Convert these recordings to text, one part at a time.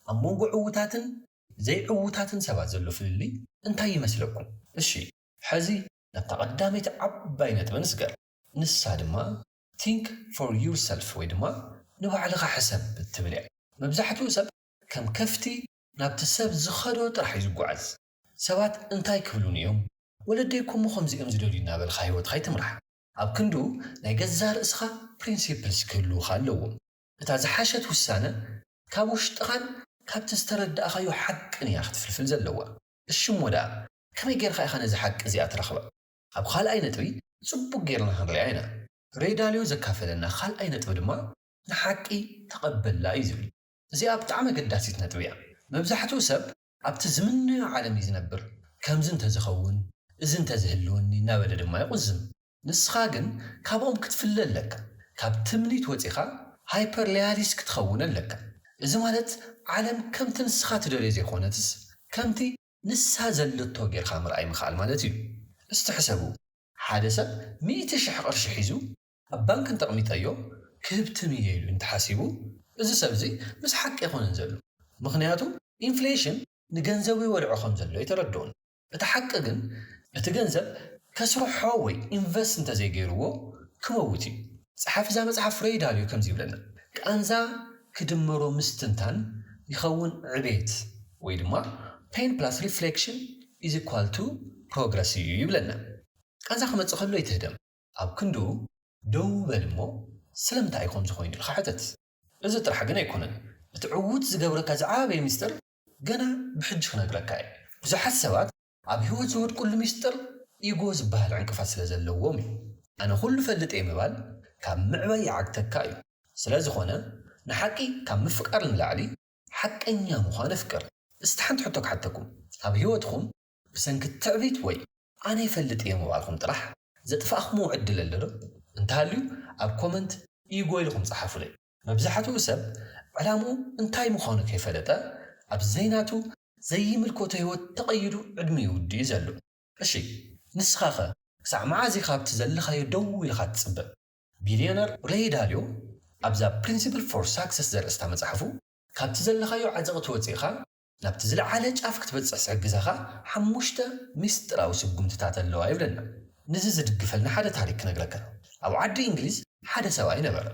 ኣብ መንጎ ዕዉታትን ዘይዕዉታትን ሰባት ዘሎ ፍልልይ እንታይ ይመስለኩም? እሺ ሕዚ ናብታ ቀዳመይቲ ዓባይ ነጥቢ ንስገር፣ ንሳ ድማ Think for yourself ወይ ድማ ንባዕልኻ ሕሰብ እትብል እያ። መብዛሕትኡ ሰብ ከም ከፍቲ ናብቲ ሰብ ዝኸዶ ጥራሕ እዩ ዝጓዓዝ። ሰባት እንታይ ክብሉኒ እዮም? ወለደይ እኮ እሞ ከምዚ እዮም ዝደልዩ እናበልካ ህይወትካ ኣይትምራሕ። ኣብ ክንድኡ ናይ ገዛእ ርእስኻ Principles ክህልዉኻ ኣለዎም። እታ ዝሓሸት ውሳነ ካብ ውሽጥኻን ካብቲ ዝተረዳእኻዮ ሓቅን እያ ክትፍልፍል ዘለዋ። እሺ እሞ ደኣ ከመይ ጌርካ ኢኻ ነዚ ሓቂ እዚኣ ትረኽባ? ኣብ ኻልኣይ ነጥቢ ጽቡቕ ጌርና ክንሪኣ ኢና። ሬዳልዮ ዘካፈለና ኻልኣይ ነጥቢ ድማ ንሓቂ ተቐበላ እዩ ዝብል። እዚኣ ብጣዕሚ ኣገዳሲት ነጥቢ እያ። መብዛሕትኡ ሰብ ኣብቲ ዝምነዮ ዓለም እዩ ዝነብር፣ ከምዚ እንተዝኸውን፣ እዚ እንተዝህልወኒ እናበለ ድማ ይቑዝም። ንስኻ ግን ካብኦም ክትፍለ ኣለካ፣ ካብ ትምኒት ወጺኻ ሃይፐርለያሊስት ክትኸውን ኣለካ። እዚ ማለት ዓለም ከምቲ ንስኻ ትደልዮ ዘይኮነትስ ከምቲ ንሳ ዘለቶ ጌርካ ምርኣይ ምኽኣል ማለት እዩ። እስቲ ሕሰቡ፣ ሓደ ሰብ ሚእቲ ሽሕ ቅርሺ ሒዙ ኣብ ባንክ እንተቕሚጠዮ ክህብ ትም እየ ኢሉ እንተሓሲቡ እዚ ሰብ እዚ ምስ ሓቂ ኣይኮነን ዘሎ ምኽንያቱ ኢንፍሌሽን ንገንዘቡ ይበልዖ ከም ዘሎ ኣይተረድኦን እቲ ሓቂ ግን እቲ ገንዘብ ከስርሖ ወይ ኢንቨስት እንተዘይገይርዎ ክመውት እዩ። ጸሓፊ እዛ መጽሓፍ ፍሬይ ዳልዮ ከምዚ ይብለና ቃንዛ ክድመሮ ምስትንታን ይኸውን ዕቤት ወይ ድማ Pain plus reflection is equal to progress እዩ ይብለና ቃንዛ ክመጽእ ከሎ ኣይትህደም ኣብ ክንድኡ ደዉ በል እሞ ስለምንታይ እዩ ከምዚ ኮይኑ ኢልካ ሕተት። እዚ ጥራሕ ግን ኣይኮነን እቲ ዕዉት ዝገብረካ ዝዓበየ ሚስጥር ገና ብሕጂ ክነግረካ እየ ብዙሓት ሰባት ኣብ ሂወት ዝወድቅሉ ሚስጥር ኢጎ ዝብሃል ዕንቅፋት ስለ ዘለዎም እዩ ኣነ ኩሉ እፈልጥ እየ ምባል ካብ ምዕባይ ይዓግተካ እዩ ስለ ዝኮነ ንሓቂ ካብ ምፍቃር ንላዕሊ ሓቀኛ ምኳን ኣፍቅር እስቲ ሓንቲ ሕቶ ክሓተኩም ኣብ ሂወትኩም ብሰንኪ ትዕቢት ወይ ኣነ ይፈልጥ እየ ምባልኩም ጥራሕ ዘጥፋእክምዎ ዕድል ኣሎ ዶ? እንተሃልዩ ኣብ ኮመንት ኢጎ ኢልኩም ጸሓፉለይ። መብዛሕትኡ ሰብ ዕላምኡ እንታይ ምዃኑ ከይፈለጠ ኣብ ዘይናቱ ዘይምልከቶ ህይወት ተቐይዱ ዕድሚኡ ይውድእ'ዩ ዘሎ። እሺ ንስኻ'ኸ ክሳዕ መዓዝ ኢኻ ኣብቲ ዘለኻዮ ደው ኢልኻ ትጽበ? ቢልዮነር ሬይ ዳልዮ ኣብዛ ፕሪንሲፕል ፎር ሳክሰስ ዘርእስታ መጽሓፉ፣ ካብቲ ዘለኻዮ ዓዘቕቲ ወጺእካ ናብቲ ዝለዓለ ጫፍ ክትበጽሕ ዝሕግዛኻ ሓሙሽተ ሚስጥራዊ ስጉምትታት ኣለዋ ይብለና። ንዚ ዝድግፈልና ሓደ ታሪክ ክነግረካ። ኣብ ዓዲ እንግሊዝ ሓደ ሰብኣይ ነበረ።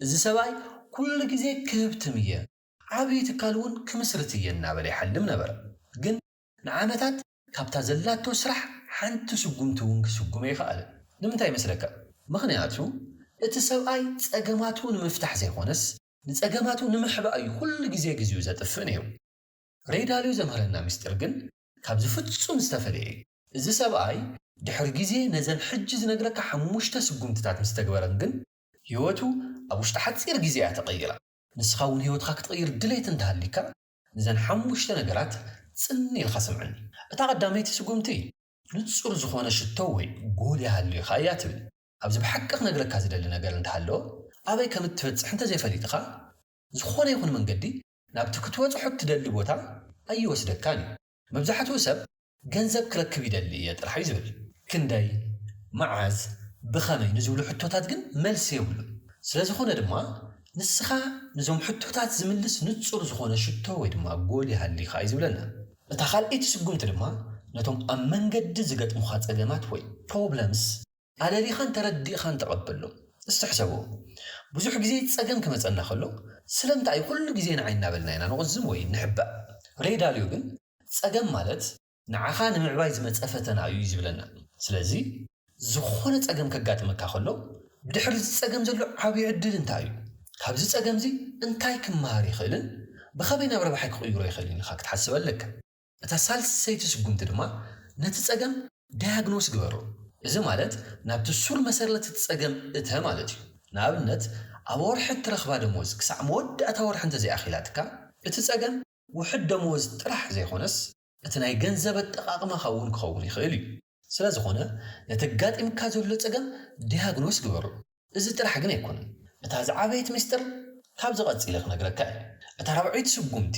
እዚ ሰብኣይ ኩሉ ግዜ ክህብትም እየ፣ ዓቢ ትካል እውን ክምስርት እየ እናበለ ይሓልም ነበረ። ግን ንዓመታት ካብታ ዘላቶ ስራሕ ሓንቲ ስጉምቲ እውን ክስጉም ኣይኸኣለን። ንምንታይ ይመስለካ? ምኽንያቱ እቲ ሰብኣይ ጸገማቱ ንምፍታሕ ዘይኮነስ ንጸገማቱ ንምሕባእ እዩ ኩሉ ግዜ ግዜኡ ዘጥፍእ ነይሩ። ረይ ዳልዮ ዘምህረና ምስጢር ግን ካብዚ ፍጹም ዝተፈለየ እዩ። እዚ ሰብኣይ ድሕሪ ግዜ ነዘን ሕጂ ዝነግረካ ሓሙሽተ ስጉምትታት ምስ ተግበረን ግን ህይወቱ ኣብ ውሽጢ ሓጺር ግዜ እያ ተቐይራ። ንስኻ እውን ህይወትካ ክትቕይር ድሌት እንተሃልዩካ ንዘን ሓሙሽተ ነገራት ጽን ኢልካ ስምዐኒ። እታ ቀዳመይቲ ስጉምቲ ንጹር ዝኾነ ሽቶ ወይ ጎል ይሃልዩካ እያ ትብል። ኣብዚ ብሓቂ ክነግረካ ዝደሊ ነገር እንተሃለወ ኣበይ ከም እትበጽሕ እንተዘይፈሊጥኻ ዝኾነ ይኹን መንገዲ ናብቲ ክትበጽሖ እትደሊ ቦታ ኣይወስደካን እዩ። መብዛሕትኡ ሰብ ገንዘብ ክረክብ ይደሊ እየ ጥራሕ እዩ ዝብል። ክንደይ? መዓዝ? ብኸመይ? ንዝብሉ ሕቶታት ግን መልሲ የብሉን። ስለዝኾነ ድማ ንስኻ ንዞም ሕቶታት ዝምልስ ንጹር ዝኾነ ሽቶ ወይ ድማ ጎል ይሃሊኻ እዩ ዝብለና። እታ ካልኣይቲ ስጉምቲ ድማ ነቶም ኣብ መንገዲ ዝገጥሙኻ ጸገማት ወይ፣ Problems፣ ኣደሊኻን ተረዲእኻን ተቐበሎ። እስቲ ሕሰብዎ፣ ብዙሕ ግዜ ጸገም ክመጸና ከሎ ስለምንታይ እዩ ኩሉ ግዜ ንዓይ እናበልና ኢና ንቑዝም ወይ እንሕባእ? ረይ ዳልዮ ግን ጸገም ማለት ንዓኻ ንምዕባይ ዝመጸ ፈተና እዩ እዩ ዝብለና። ስለዚ ዝኾነ ጸገም ከጋጥመካ ከሎ ብድሕሪ እዚ ጸገም ዘሎ ዓብዩ ዕድል እንታይ እዩ? ካብዚ ጸገምዚ እንታይ ክመሃር ይኽእልን ብኸመይ ናብ ረብሓይ ክቕይሮ ይኽእልን ኢልኻ ክትሓስብ ኣለካ። እታ ሳልሰይቲ ስጉምቲ ድማ ነቲ ጸገም ዳያግኖስ ግበሮ። እዚ ማለት ናብቲ ሱር መሰረት እቲ ጸገም እተ ማለት እዩ። ንኣብነት ኣብ ወርሒ እትረኽባ ደሞዝ ክሳዕ መወዳእታ ወርሒ እንተዘይኣኺላትካ፣ እቲ ጸገም ውሑድ ደመወዝ ጥራሕ ዘይኮነስ እቲ ናይ ገንዘብ ኣጠቓቕማኻ እውን ክኸውን ይኽእል እዩ። ስለዝኾነ ነቲ ኣጋጢምካ ዘሎ ጸገም ዳያግኖስ ግበሮ። እዚ ጥራሕ ግን ኣይኮነን። እታ ዝዓበየት ሚስጥር ካብዚ ቀጺለ ክነግረካ እየ። እታ ራብዐይቲ ስጉምቲ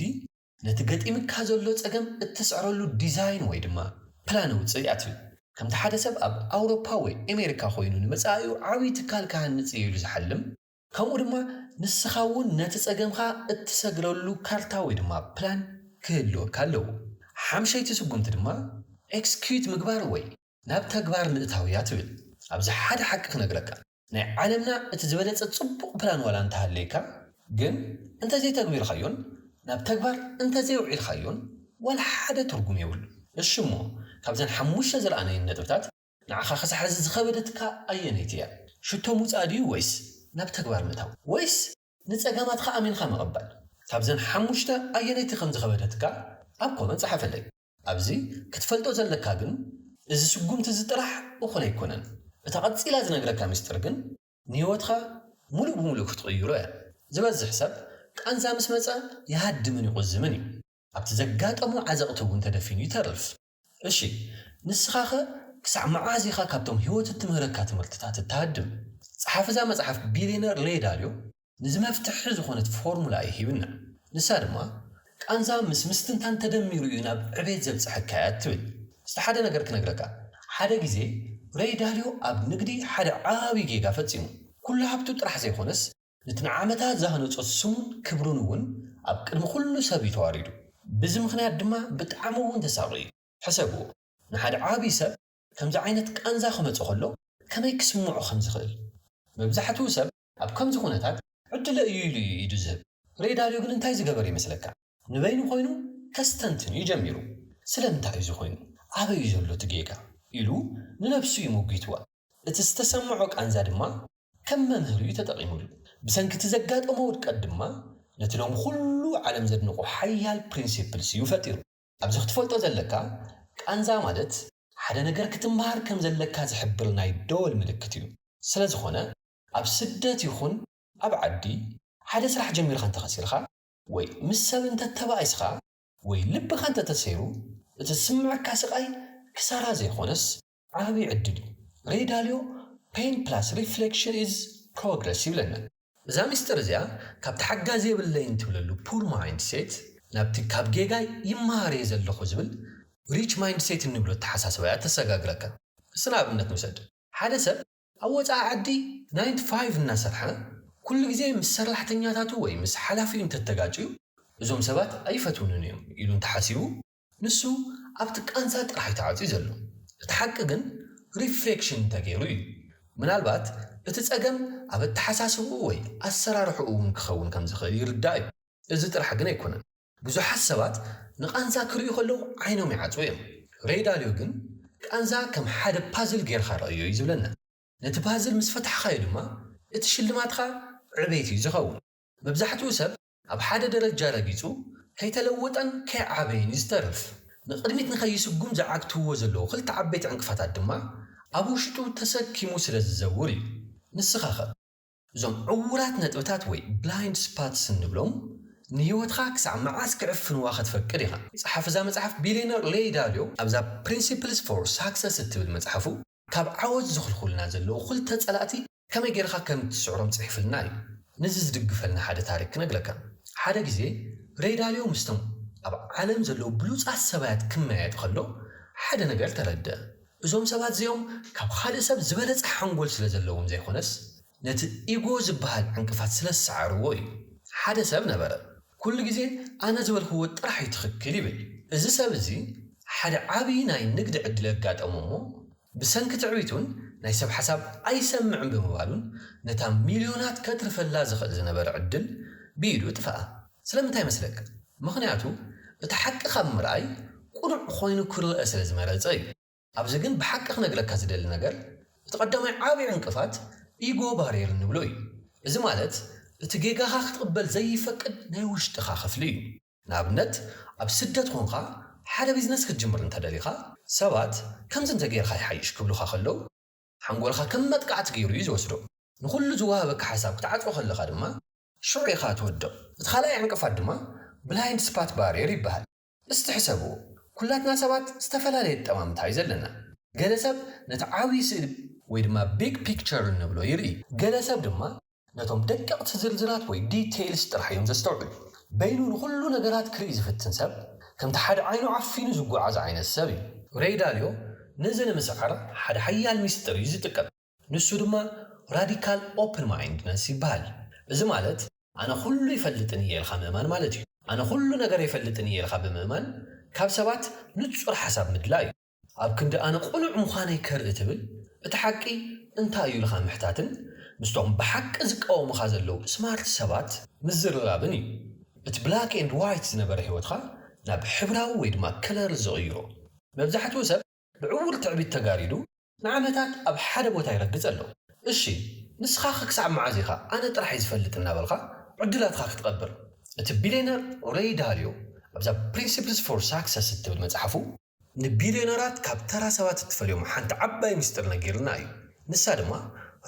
ነቲ ገጢምካ ዘሎ ጸገም እትስዕረሉ ዲዛይን ወይ ድማ ፕላን ኣውጽእ ኢዩ። ከምቲ ሓደ ሰብ ኣብ ኣውሮፓ ወይ ኤሜሪካ ኮይኑ ንመጻኢኡ ዓቢ ትካል ክሃንጽ ኢዩ ኢሉ ዝሓልም፣ ከምኡ ድማ ንስኻ እውን ነቲ ጸገምካ እትሰግረሉ ካርታ ወይ ድማ ፕላን ክህልወካ ኣለዎ። ሓምሸይቲ ስጉምቲ ድማ ኤክስኪዩት ምግባር ወይ ናብ ተግባር ምእታው ኢያ ትብል። ኣብዚ ሓደ ሓቂ ክነግረካ። ናይ ዓለምና እቲ ዝበለጸ ጽቡቕ ፕላን ዋላ እንተሃለየካ ግን እንተዘይተግቢርካዮን ናብ ተግባር እንተዘየውዒልካዮን ዋላ ሓደ ትርጉም የብሉን። እሺ እሞ ካብዘን ሓሙሽተ ዝረኣናየን ነጥብታት ንዓኻ ክሳዕ ሕዚ ዝኸበደትካ ኣየነይቲ እያ? ሽቶ ምውጻእ ድዩ ወይስ ናብ ተግባር ምእታው? ወይስ ንጸገማትካ ኣሚንካ ምቕባል? ካብዘን ሓሙሽተ ኣየነይቲ ከም ዝኸበደትካ ኣብ ኮመንት ጸሓፈለይ። ኣብዚ ክትፈልጦ ዘለካ ግን እዚ ስጉምቲ እዚ ጥራሕ እኹል ኣይኮነን። እታ ቀጺላ ዝነግረካ ምስጢር ግን ንህይወትካ ሙሉእ ብሙሉእ ክትቕይሮ እያ። ዝበዝሕ ሰብ ቃንዛ ምስ መጸ ይሃድምን ይቑዝምን እዩ። ኣብቲ ዘጋጠሞ ዓዘቕቲ እውን ተደፊኑ ይተርፍ። እሺ ንስኻኸ ክሳዕ መዓዝ ኢኻ ካብቶም ህይወት እትምህረካ ትምህርትታት እትሃድም? ጸሓፊ እዛ መጽሓፍ ቢልየነር ሬይ ዳልዮ ንዚ መፍትሒ ዝኾነት ፎርሙላ እዩ ሂብና። ንሳ ድማ ቃንዛ ምስ ምስትንታን ተደሚሩ እዩ ናብ ዕቤት ዘብጽሐካ ትብል። እስቲ ሓደ ነገር ክነግረካ ሓደ ግዜ ረይ ዳልዮ ኣብ ንግዲ ሓደ ዓቢ ጌጋ ፈጺሙ። ኩሉ ሃብቱ ጥራሕ ዘይኮነስ ነቲ ንዓመታት ዝሃነጾ ስሙን ክብሩን እውን ኣብ ቅድሚ ኩሉ ሰብ እዩ ተዋሪዱ። ብዚ ምኽንያት ድማ ብጣዕሚ እውን ተሳቕዩ። ሕሰብዎ ንሓደ ዓቢ ሰብ ከምዚ ዓይነት ቃንዛ ክመጾ ከሎ ከመይ ክስምዖ ከም ዝኽእል። መብዛሕትኡ ሰብ ኣብ ከምዚ ኩነታት ዕድለ እዩ ኢሉ እዩ ኢዱ ዝህብ። ሬይ ዳልዮ ግን እንታይ ዝገበረ ይመስለካ? ንበይኑ ኮይኑ ከስተንትን እዩ ጀሚሩ። ስለምንታይ እዩ እዚ ኮይኑ? ኣበይ እዩ ዘሎ እቲ ጌጋ? ኢሉ ንነብሱ እዩ ሞጒትዋ። እቲ ዝተሰምዖ ቃንዛ ድማ ከም መምህር እዩ ተጠቒሙሉ። ብሰንኪ እቲ ዘጋጠሞ ውድቀት ድማ ነቲ ሎሚ ኩሉ ዓለም ዘድንቖ ሓያል ፕሪንሲፕልስ እዩ ፈጢሩ። ኣብዚ ክትፈልጦ ዘለካ ቃንዛ ማለት ሓደ ነገር ክትምሃር ከም ዘለካ ዝሕብር ናይ ደወል ምልክት እዩ። ስለ ዝኾነ ኣብ ስደት ይኹን ኣብ ዓዲ ሓደ ስራሕ ጀሚርካ እንተ ከሲርካ ወይ ምስ ሰብ እንተ ተባኢስካ ወይ ልብኻ እንተ ተሰይሩ እቲ ዝስምዐካ ስቃይ ክሳራ ዘይኾነስ ዓቢ ዕድል እዩ ሬይ ዳልዮ Pain plus reflection is progress ይብለና። እዛ ሚስጥር እዚኣ ካብቲ ሓጋዚ የብለይን ትብለሉ Poor Mindset ናብቲ ካብ ጌጋይ ይመሃር እየ ዘለኹ ዝብል Rich Mindset እንብሎ ኣተሓሳስባ እያ እተሰጋግረካ። እስቲ ንኣብነት ንውሰድ። ሓደ ሰብ ኣብ ወጻኢ ዓዲ Nine to Five እናሰርሐ ኩሉ ግዜ ምስ ሰርላሕተኛታቱ ወይ ምስ ሓላፊኡ እንተተጋጭዩ እዞም ሰባት ኣይፈትውንን እዮም ኢሉ እንተሓሲቡ፣ ንሱ ኣብቲ ቃንዛ ጥራሕ እዩ ተዓጽዩ ዘሎ። እቲ ሓቂ ግን ሪፍሌክሽን እንተገይሩ እዩ። ምናልባት እቲ ጸገም ኣብ ኣተሓሳስብኡ ወይ ኣሰራርሕኡ እውን ክኸውን ከም ዝኽእል ይርዳእ እዩ። እዚ ጥራሕ ግን ኣይኮነን። ብዙሓት ሰባት ንቓንዛ ክርእዩ ከለዉ ዓይኖም ይዓጽዉ እዮም። ሬይ ዳልዮ ግን ቃንዛ ከም ሓደ ፓዝል ገይርካ ርኣዮ እዩ ዝብለና። ነቲ ፓዝል ምስ ፈታሕካዮ ድማ እቲ ሽልማትካ ዕቤት እዩ ዝኸውን። መብዛሕትኡ ሰብ ኣብ ሓደ ደረጃ ረጊጹ ከይተለወጠን ከይዓበየን ዝተርፍ፣ ንቕድሚት ንከይስጉም ዝዓግትዎ ዘለዉ ክልተ ዓበይቲ ዕንቅፋታት ድማ ኣብ ውሽጡ ተሰኪሙ ስለ ዝዘውር እዩ። ንስኻኸ? እዞም ዕዉራት ነጥብታት ወይ ብላይንድ ስፓትስ እንብሎም ንህይወትካ ክሳዕ መዓስ ክዕፍንዋ ክትፈቅድ ኢኻ? ጸሓፊ እዛ መጽሓፍ ቢልየነር ሌይ ዳልዮ ኣብዛ ፕሪንሲፕልስ ፎር ሳክሰስ እትብል መጽሓፉ ካብ ዓወት ዝኽልኩልና ዘለዉ ክልተ ጸላእቲ ከመይ ጌርኻ ከም እትስዕሮም ጽሒፍልና እዩ። ነዚ ዝድግፈልና ሓደ ታሪኽ ክነግረካ። ሓደ ግዜ ረይ ዳልዮ ምስቶም ኣብ ዓለም ዘለዉ ብሉጻት ሰባያት ክመያየጥ ከሎ ሓደ ነገር ተረድኣ። እዞም ሰባት እዚኦም ካብ ኻልእ ሰብ ዝበለጸ ሓንጎል ስለ ዘለዎም ዘይኮነስ ነቲ ኢጎ ዝበሃል ዕንቅፋት ስለ ዝሰዓርዎ እዩ። ሓደ ሰብ ነበረ ኩሉ ግዜ ኣነ ዝበልክዎ ጥራሕ እዩ ትኽክል ይብል። እዚ ሰብ እዚ ሓደ ዓቢ ናይ ንግዲ ዕድል ኣጋጠሞ እሞ፣ ብሰንኪ ትዕቢቱን ናይ ሰብ ሓሳብ ኣይሰምዕን ብምባሉን ነታ ሚልዮናት ከትርፈላ ዝኽእል ዝነበረ ዕድል ብኢዱ እጥፈኣ። ስለምንታይ መስለካ? ምኽንያቱ እቲ ሓቂ ካብ ምርኣይ ቅኑዕ ኮይኑ ክርኣ ስለ ዝመረጸ እዩ። ኣብዚ ግን ብሓቂ ክነግረካ ዝደሊ ነገር እቲ ቀዳማይ ዓቢ ዕንቅፋት ኢጎ ባርየር እንብሎ እዩ። እዚ ማለት እቲ ጌጋኻ ክትቕበል ዘይፈቅድ ናይ ውሽጥኻ ክፍሊ እዩ። ንኣብነት ኣብ ስደት ኮንካ ሓደ ቢዝነስ ክትጅምር እንተ ደሊኻ፣ ሰባት ከምዚ እንተ ገይርካ ይሓይሽ ክብሉኻ ከለዉ፣ ሓንጎልካ ከም መጥቃዕቲ ገይሩ እዩ ዝወስዶ። ንኹሉ ዝወሃበካ ሓሳብ ክትዓጽዎ ከለኻ ድማ ሽዑ ኢኻ ትወድቕ። እቲ ካልኣይ ዕንቅፋት ድማ ብላይንድ ስፓት ባርየር ይበሃል። እስቲ ሕሰብዎ፣ ኩላትና ሰባት ዝተፈላለየ ኣጠማምታ እዩ ዘለና። ገለ ሰብ ነቲ ዓብዪ ስእሊ ወይ ድማ ቢግ ፒክቸር እንብሎ ይርኢ፣ ገለ ሰብ ድማ ነቶም ደቀቕቲ ዝርዝራት ወይ ዲተይልስ ጥራሕ እዮም ዘስተውዕሉ። በይኑ ንኹሉ ነገራት ክርኢ ዝፍትን ሰብ፣ ከምቲ ሓደ ዓይኑ ዓፊኑ ዝጎዓዝ ዓይነት ሰብ እዩ። ሬይ ዳልዮ ነዚ ንምስዓር ሓደ ሓያል ሚስጥር እዩ ዝጥቀም። ንሱ ድማ ራዲካል ኦፕን ማይንድነስ ይበሃል። እዚ ማለት ኣነ ኩሉ ይፈልጥን እየ ኢልካ ምእማን ማለት እዩ። ኣነ ኩሉ ነገር ኣይፈልጥን እየ ኢልካ ብምእማን ካብ ሰባት ንጹር ሓሳብ ምድላይ እዩ። ኣብ ክንዲ ኣነ ቅኑዕ ምዃነይ ከርኢ ትብል፣ እቲ ሓቂ እንታይ እዩ ኢልካ ምሕታትን ምስቶም ብሓቂ ዝቃወሙኻ ዘለዉ ስማርት ሰባት ምዝርራብን እዩ እቲ ብላክ ኤንድ ዋይት ዝነበረ ህይወትካ ናብ ሕብራዊ ወይ ድማ ከለር ዝቕይሮ። መብዛሕትኡ ሰብ ብዕዉር ትዕቢት ተጋሪዱ ንዓመታት ኣብ ሓደ ቦታ ይረግጽ ኣሎ። እሺ ንስኻኸ ክሳዕ መዓዝ ኢኻ ኣነ ጥራሕ እየ ዝፈልጥ እናበልካ ዕድላትካ ክትቐብር? እቲ ቢልየነር ሬይ ዳልዮ ኣብዛ ፕሪንሲፕልስ ፎር ሳክሰስ እትብል መጽሓፉ፣ ንቢልዮነራት ካብ ተራ ሰባት እትፈልዮም ሓንቲ ዓባይ ሚስጥር ነጊርና እዩ። ንሳ ድማ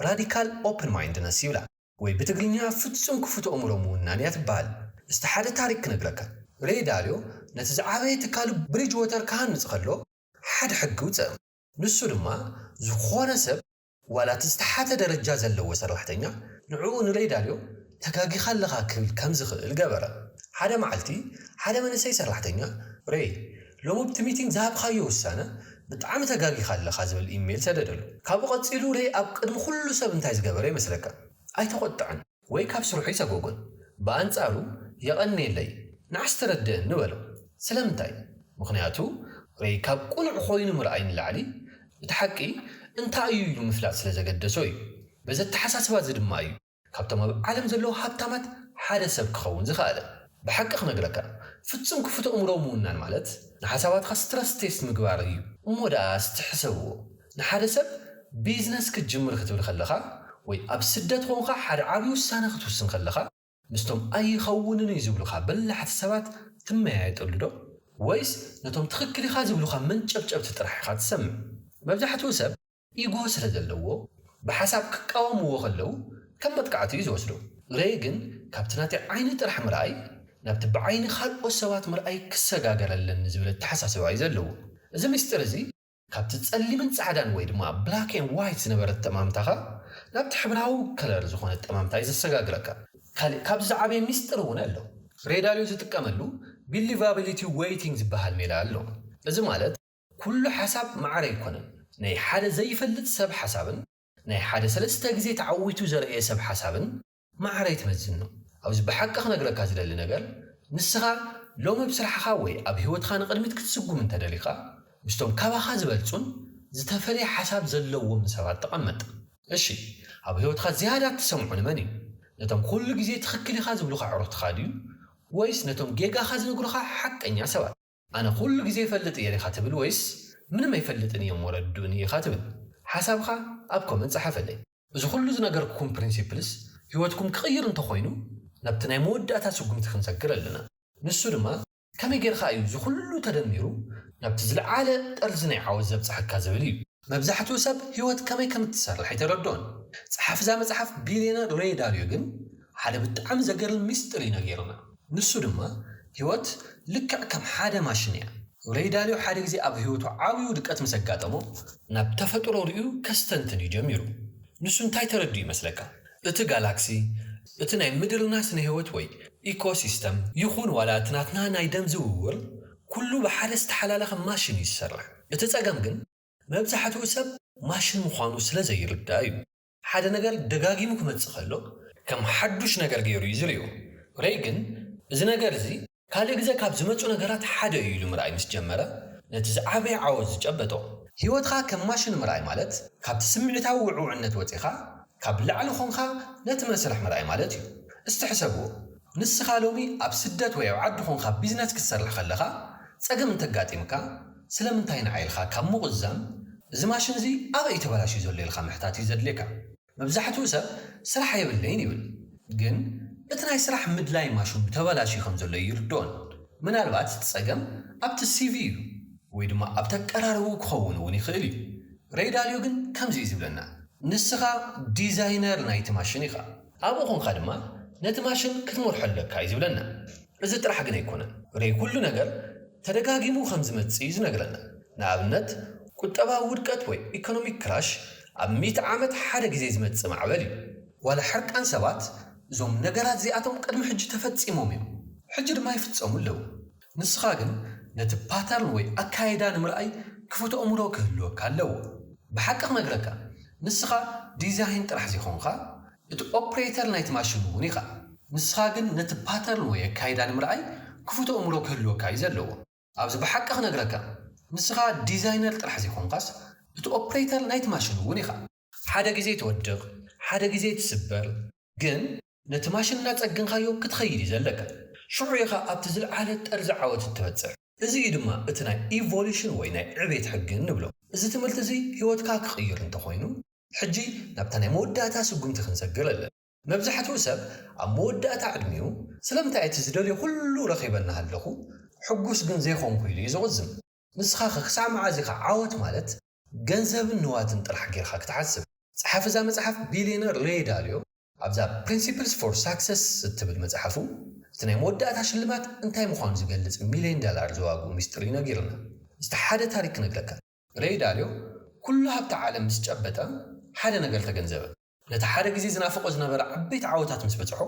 ራዲካል ኦፕን ማይንድነስ ይብላ። ወይ ብትግርኛ ፍጹም ክፉት ኣእምሮ ምውናን እያ ትበሃል። እስቲ ሓደ ታሪክ ክነግረካ። ሬይ ዳልዮ ነቲ ዝዓበየ ትካሉ ብሪጅወተር ክሃንጽ ከሎ ሓደ ሕጊ ኣውጸኣ። ንሱ ድማ ዝኾነ ሰብ ዋላ እቲ ዝተሓተ ደረጃ ዘለዎ ሰራሕተኛ ንዕኡ ንለይዳልዮ ተጋጊኻ ኣለኻ ክብል ከም ዝኽእል ገበረ። ሓደ መዓልቲ ሓደ መንእሰይ ሰራሕተኛ፣ ረይ፣ ሎሚ ኣብቲ ሚቲንግ ዝሃብካዮ ውሳነ ብጣዕሚ ተጋጊኻ ኣለኻ ዝብል ኢሜይል ሰደደሉ። ካብኡ ቀጺሉ ረይ ኣብ ቅድሚ ኩሉ ሰብ እንታይ ዝገበረ ይመስለካ? ኣይተቖጥዐን። ወይ ካብ ስርሑ ይሰጎጎን ብኣንጻሩ የቐንየለይ ንዓስ ተረድእኒ ንበሎ ስለምንታይ ምኽንያቱ ወይ ካብ ቁኑዕ ኮይኑ ምርኣይ ንላዕሊ እቲ ሓቂ እንታይ እዩ ኢሉ ምፍላጥ ስለ ዘገደሶ እዩ በዚ ኣተሓሳስባ እዚ ድማ እዩ ካብቶም ኣብ ዓለም ዘለዉ ሃብታማት ሓደ ሰብ ክኸውን ዝኸኣለ ብሓቂ ክነግረካ ፍጹም ክፉት ኣእምሮ ምውናን ማለት ንሓሳባትካ ስትረስ ቴስት ምግባር እዩ እሞ ደኣ እስቲ ሕሰብዎ ንሓደ ሰብ ቢዝነስ ክትጅምር ክትብል ከለኻ ወይ ኣብ ስደት ኾንኻ ሓደ ዓብዪ ውሳነ ክትውስን ከለኻ ምስቶም ኣይኸውንን እዩ ዝብሉኻ በላሕቲ ሰባት ትመያየጠሉዶ ወይስ ነቶም ትኽክል ኢኻ ዝብሉኻ መንጨብጨብቲ ጥራሕ ኢኻ ትሰምዕ? መብዛሕትኡ ሰብ ኢጎ ስለ ዘለዎ ብሓሳብ ክቃወምዎ ከለው ከም መጥቃዕቲ እዩ ዝወስዶ። ረየ ግን ካብቲ ናተይ ዓይኒ ጥራሕ ምርኣይ ናብቲ ብዓይኒ ካልኦት ሰባት ምርኣይ ክሰጋገር ኣለኒ ዝብል ኣተሓሳስባ እዩ ዘለዎ። እዚ ምስጢር እዚ ካብቲ ጸሊምን ጻዕዳን ወይ ድማ ብላክ ኤን ዋይት ዝነበረ እተማምታኻ ናብቲ ሕብራዊ ከለር ዝኾነ እተማምታ እዩ ዘሰጋግረካ። ካልእ ካብዚ ዝዓበየ ሚስጥር እውን ኣሎ። ሬዳልዮ ዝጥቀመሉ ቢሊቫቢሊቲ ዌይቲንግ ዝበሃል ሜላ ኣሎ። እዚ ማለት ኩሉ ሓሳብ ማዕረ ኣይኮነን። ናይ ሓደ ዘይፈልጥ ሰብ ሓሳብን ናይ ሓደ ሰለስተ ግዜ ተዓዊቱ ዘርእየ ሰብ ሓሳብን ማዕረ ኣይትመዝኖ። ኣብዚ ብሓቂ ክነግረካ ዝደሊ ነገር ንስኻ ሎሚ ብ ስራሕኻ ወይ ኣብ ሂወትኻ ንቅድሚት ክትስጉም እንተ ደሊኻ ምስቶም ካባኻ ዝበልጹን ዝተፈልየ ሓሳብ ዘለዎምን ሰባት ተቀመጥ። እሺ ኣብ ሂወትኻ ዝያዳ እትሰምዖ ንመን እዩ? ነቶም ኩሉ ግዜ ትኽክል ኢኻ ዝብሉኻ ኣዕሩኽትኻ ድዩ ወይስ ነቶም ጌጋኻ ዝነግሩኻ ሓቀኛ ሰባት? ኣነ ኩሉ ግዜ ይፈልጥ እየ ኢካ ትብል ወይስ ምንም ኣይፈልጥን እየ እሞ ረድኡኒ ኢካ ትብል ሓሳብካ ኣብ ኮመንት ጸሓፈለይ። እዚ ኩሉ ዝነገርኩኩም ፕሪንሲፕልስ ሂወትኩም ክቅይር እንተ ኮይኑ ናብቲ ናይ መወዳእታ ስጉምቲ ክንሰግር ኣለና ንሱ ድማ ከመይ ጌርካ እዩ እዚ ኩሉ ተደሚሩ ናብቲ ዝልዓለ ጠርዚ ናይ ዓወት ዘብጽሓካ ዝብል እዩ። መብዛሕትኡ ሰብ ህይወት ከመይ ከም እትሰርሕ ኣይተረድኦን። ጸሓፊ እዛ መጽሓፍ ቢልየነር ሬይ ዳልዮ ግን ሓደ ብጣዕሚ ዘገርም ምስጢር እዩ ነጊሩና። ንሱ ድማ ህይወት ልክዕ ከም ሓደ ማሽን እያ። ሬይ ዳልዮ ሓደ ግዜ ኣብ ህይወቱ ዓብይ ውድቀት ምስ ኣጋጠሞ ናብ ተፈጥሮ ርእዩ ከስተንትን እዩ ጀሚሩ። ንሱ እንታይ ተረዲኡ ይመስለካ? እቲ ጋላክሲ፣ እቲ ናይ ምድርና ስነ-ህይወት ወይ ኢኮሲስተም ይኹን ዋላ እቲ ናትና ናይ ደም ዝውውር ኩሉ ብሓደ ዝተሓላለኸ ማሽን እዩ ዝሰርሕ። እቲ ጸገም ግን መብዛሕትኡ ሰብ ማሽን ምዃኑ ስለ ዘይርዳእ እዩ። ሓደ ነገር ደጋጊሙ ክመጽእ ከሎ ከም ሓዱሽ ነገር ገይሩ እዩ ዝርእዮ። ረይ ግን እዚ ነገር እዚ ካልእ ግዘ ካብ ዝመጹ ነገራት ሓደ እዩ ኢሉ ምርኣይ ምስ ጀመረ ነቲ ዝዓበየ ዓወት ዝጨበጦ። ህይወትካ ከም ማሽን ምርኣይ ማለት ካብቲ ስምዒታዊ ውዕውዕነት ወጺኻ ካብ ላዕሊ ኮንካ ነቲ መስርሕ ምርኣይ ማለት እዩ። እስቲ ሕሰብዎ፣ ንስኻ ሎሚ ኣብ ስደት ወይ ኣብ ዓዲ ኮንካ ቢዝነስ ክትሰርሕ ከለኻ ጸገም እንተጋጢምካ፣ ስለምንታይ ንዓይ ኢልካ ካብ ምቑዛም፣ እዚ ማሽን እዚ ኣበይ እዩ ተበላሽዩ ዘሎ ኢልካ ምሕታት እዩ ዘድልየካ። መብዛሕትኡ ሰብ ስራሕ የብለይን ይብል፣ ግን እቲ ናይ ስራሕ ምድላይ ማሽኑ ተበላሽዩ ከም ዘሎ ኣይርድኦን። ምናልባት እቲ ጸገም ኣብቲ ሲቪ እዩ፣ ወይ ድማ ኣብቲ ኣቀራርብኡ ክኸውን እውን ይኽእል እዩ። Ray Dalio ግን ከምዚ እዩ ዝብለና፣ ንስኻ ዲዛይነር ናይቲ ማሽን ኢኻ፣ ኣብኡ ኰንካ ድማ ነቲ ማሽን ክትመርሖ ኣለካ እዩ ዝብለና። እዚ ጥራሕ ግን ኣይኰነን፣ Ray ኵሉ ነገር ተደጋጊሙ ከም ዝመጽእ እዩ ዝነግረና። ንኣብነት፣ ቍጠባዊ ውድቀት ወይ ኢኮኖሚክ ክራሽ ኣብ ሚእቲ ዓመት ሓደ ግዜ ዝመጽእ ማዕበል እዩ። ዋላ ሕርቃን ሰባት፣ እዞም ነገራት እዚኣቶም ቅድሚ ሕጂ ተፈጺሞም እዮም፣ ሕጂ ድማ ይፍጸሙ ኣለዉ። ንስኻ ግን ነቲ ፓተርን ወይ ኣካይዳ ንምርኣይ ክፉት ኣእምሮ ክህልወካ ኣለዎ። ብሓቂ ክነግረካ ንስኻ ዲዛይን ጥራሕ ዘይኮንኻ እቲ ኦፕሬተር ናይቲ ማሽን እውን ኢኻ። ንስኻ ግን ነቲ ፓተርን ወይ ኣካይዳ ንምርኣይ ክፉት ኣእምሮ ክህልወካ እዩ ዘለዎ። ኣብዚ ብሓቂ ክነግረካ ንስኻ ዲዛይነር ጥራሕ ዘይኮንኻስ እቲ ኦፕሬተር ናይቲ ማሽን እውን ኢኻ። ሓደ ግዜ ትወድቅ ሓደ ግዜ ትስበር ግን ነቲ ማሽን እናጸገንካዮ ክትኸይድ እዩ ዘለካ ሽዑ ኢኻ ኣብቲ ዝልዓለ ጠርዚ ዓወት እትበጽሕ እዚ እዩ ድማ እቲ ናይ ኢቮሉሽን ወይ ናይ ዕቤት ሕጊ እንብሎ። እዚ ትምህርቲ እዚ ሂወትካ ክቅይር እንተኾይኑ ሕጂ ናብታ ናይ መወዳእታ ስጉምቲ ክንሰግር ኣለና። መብዛሕትኡ ሰብ ኣብ መወዳእታ ዕድሚኡ ስለምንታይ እቲ ዝደልዮ ኩሉ ረኺበ እናሃለኹ ሕጉስ ግን ዘይኮንኩ ኢሉ እዩ ዝቁዝም። ንስኻኸ ክሳዕ መዓዝ ኢኻ ዓወት ማለት ገንዘብን ንዋትን ጥራሕ ጌርኻ ክትሓስብ? ጸሓፊ እዛ መጽሓፍ ቢልየነር ሬይ ዳልዮ ኣብዛ ፕሪንሲፕልስ ፎር ሳክሰስ እትብል መጽሓፉ እቲ ናይ መወዳእታ ሽልማት እንታይ ምዃኑ ዝገልጽ ሚልዮን ዳላር ዘዋግኡ ምስጢር እዩ ነጊሩና። እስቲ ሓደ ታሪክ ክነግረካ። ሬይ ዳልዮ ኩሉ ሃብቲ ዓለም ምስ ጨበጠ ሓደ ነገር ተገንዘበ። ነቲ ሓደ ግዜ ዝናፍቖ ዝነበረ ዓበይቲ ዓወታት ምስ በጽሖ፣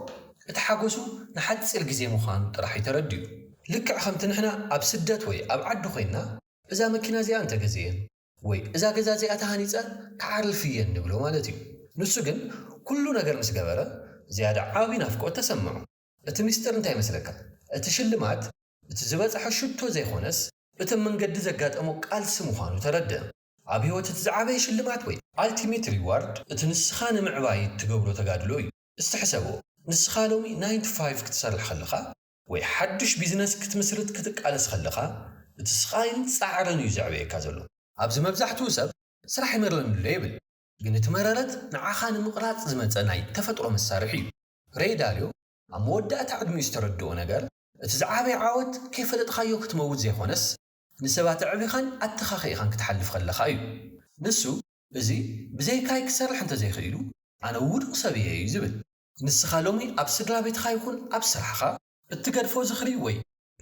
እቲ ሓጐሱ ንሓጺር ግዜ ምዃኑ ጥራሕ እዩ ተረዲኡ። ልክዕ ከምቲ ንሕና ኣብ ስደት ወይ ኣብ ዓዲ ኮይንና እዛ መኪና እዚኣ እንተ ገዚኤ ወይ እዛ ገዛ እዚኣ ተሃኒጸ ክዓርፍ እየ እንብሎ ማለት እዩ። ንሱ ግን ኩሉ ነገር ምስ ገበረ ዝያዳ ዓቢ ናፍቆት ተሰምዖ። እቲ ምስጢር እንታይ ይመስለካ? እቲ ሽልማት እቲ ዝበጽሖ ሽቶ ዘይኮነስ እቲ ኣብ መንገዲ ዘጋጠሞ ቃልሲ ምዃኑ ተረድኣ። ኣብ ህይወት እቲ ዝዓበየ ሽልማት ወይ። ኣልቲሜት ሪዋርድ እቲ ንስኻ ንምዕባይ እትገብሮ ተጋድሎ እዩ። እስቲ ሕሰቦ፣ ንስኻ ሎሚ ናይን ቱ ፋይቭ ክትሰርሕ ከለኻ ወይ ሓዱሽ ቢዝነስ ክትምስርት ክትቃለስ ከለኻ፣ እቲ ስቓይን ጻዕርን እዩ ዘዕበየካ ዘሎ። ኣብዚ መብዛሕትኡ ሰብ ስራሕ ይመረን'ሎ ይብል፣ ግን እቲ መረረት ንዓኻ ንምቕራጽ ዝመጸ ናይ ተፈጥሮ መሳርሒ እዩ። ሬይ ዳልዮ ኣብ መወዳእታ ዕድሚኡ ዝተረድኦ ነገር፣ እቲ ዝዓበየ ዓወት ከይፈለጥካዮ ክትመውት ዘይኮነስ፣ ንሰባት ኣዕቢኻን ኣተኻኺኢኻን ክትሓልፍ ከለኻ እዩ። ንሱ፣ እዚ ብዘይካይ ክሰርሕ እንተ ዘይክኢሉ፣ ኣነ ውዱቕ ሰብ እየ እዩ ዝብል። ንስኻ ሎሚ ኣብ ስድራ ቤትኻ ይኹን ኣብ ስራሕኻ እትገድፎ ዝኽሪ ወይ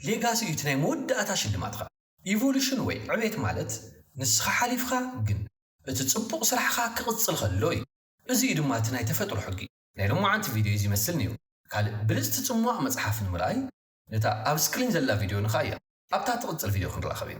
ሌጋሲ እዩ እቲ ናይ መወዳእታ ሽልማትካ። ኢቮሉሽን ወይ ዕቤት ማለት ንስኻ ሓሊፍካ ግን እቲ ጽቡቕ ስራሕኻ ክቕጽል ከሎ እዩ። እዚ እዩ ድማ እቲ ናይ ተፈጥሮ ሕጊ። ናይ ሎማዓንቲ ቪድዮይ እዚ ይመስል ነይሩ። ካልእ ብልጽቲ ጽሟቕ መጽሓፍ ንምርኣይ ነታ ኣብ ስክሪን ዘላ ቪድዮ ንክኣያ ኣብታ ትቕጽል ቪድዮ ክንራኸብ ኢና።